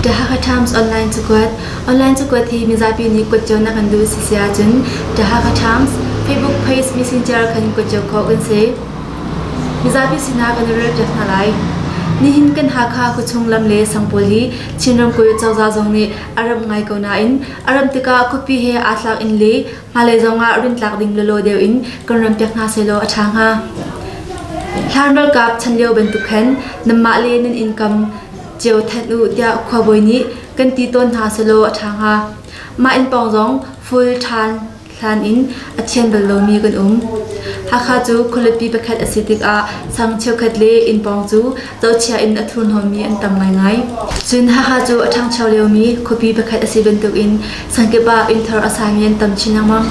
The Hakha Times online cakuat Online cakuat hi mizapi nih kuat cio nak an duh si si ahcun The Hakha Times Facebook page messenger khan kuat cio khawh kan si. Mizapi sinah kan i relpiak hna lai. Nihin kan Hakha khuachung lam le sang pawl hi Chinram kuy cozah zong nih a ram ngai ko nain a ram tikah khupi he aa tlak in le Hngalei zongah rintlak ding lawlaw deuh in kan ram pek hna sehlaw a ṭha hnga. Hlan ralkap chan lio bantuk khan nanmah le nan income cio thanh u tiah khuabawi nih kan ti tawn hna sehlaw a ṭha hnga. Mah inn pawng zong full ṭhan hlan in a thian bal lomi kan um. Hakha cu khualipi pakhat a si tikah sang cheukhat le inn pawng cu tochia in a thurhnawmmi an tam ngaingai. Cun haha cu a ṭhangcho liomi khuapi pakhat a si bantukin sangkip ah innthar a sami an tam chin lengmang.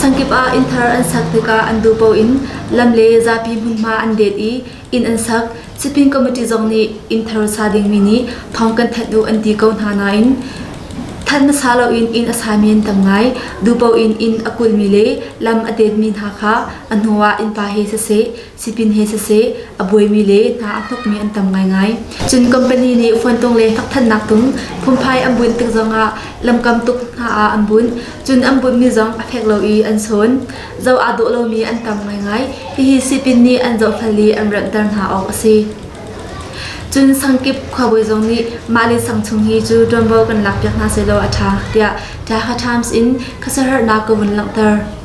Sangkip ah innthar an sak tikah an duh paoh in lam le zapi hmunhma an det i inn an sak. Sipin committee zong nih innthar sa dingmi nih thawng kan thanh u an ti ko hna nain Than hmasa loin inn a sami an tam ngai. Dupo in inn a kulmi le lam a detmi hna kha a hnuah innpa he siseh, Sipin he siseh, a buaimi le hna a hnokmi an tam ngaingai. Cun company nih fuantung le hnakhthannak tung phunphai an bunh tik zongah lamkam tuk hna ah an bunh. Cun an bunhmi zong a fek lo i an sawn. Zoh aa dawh lomi an tam ngaingai. Hihi sipin nih an zohfel i an ranhter hna awk a si. Cun sangkip khuabawi zong nih mah le sang chung hi cu ṭuanvo kan lakpiak hna sehlaw a ṭha tiah Tlaha Times in khasaharnak ka vun langhter.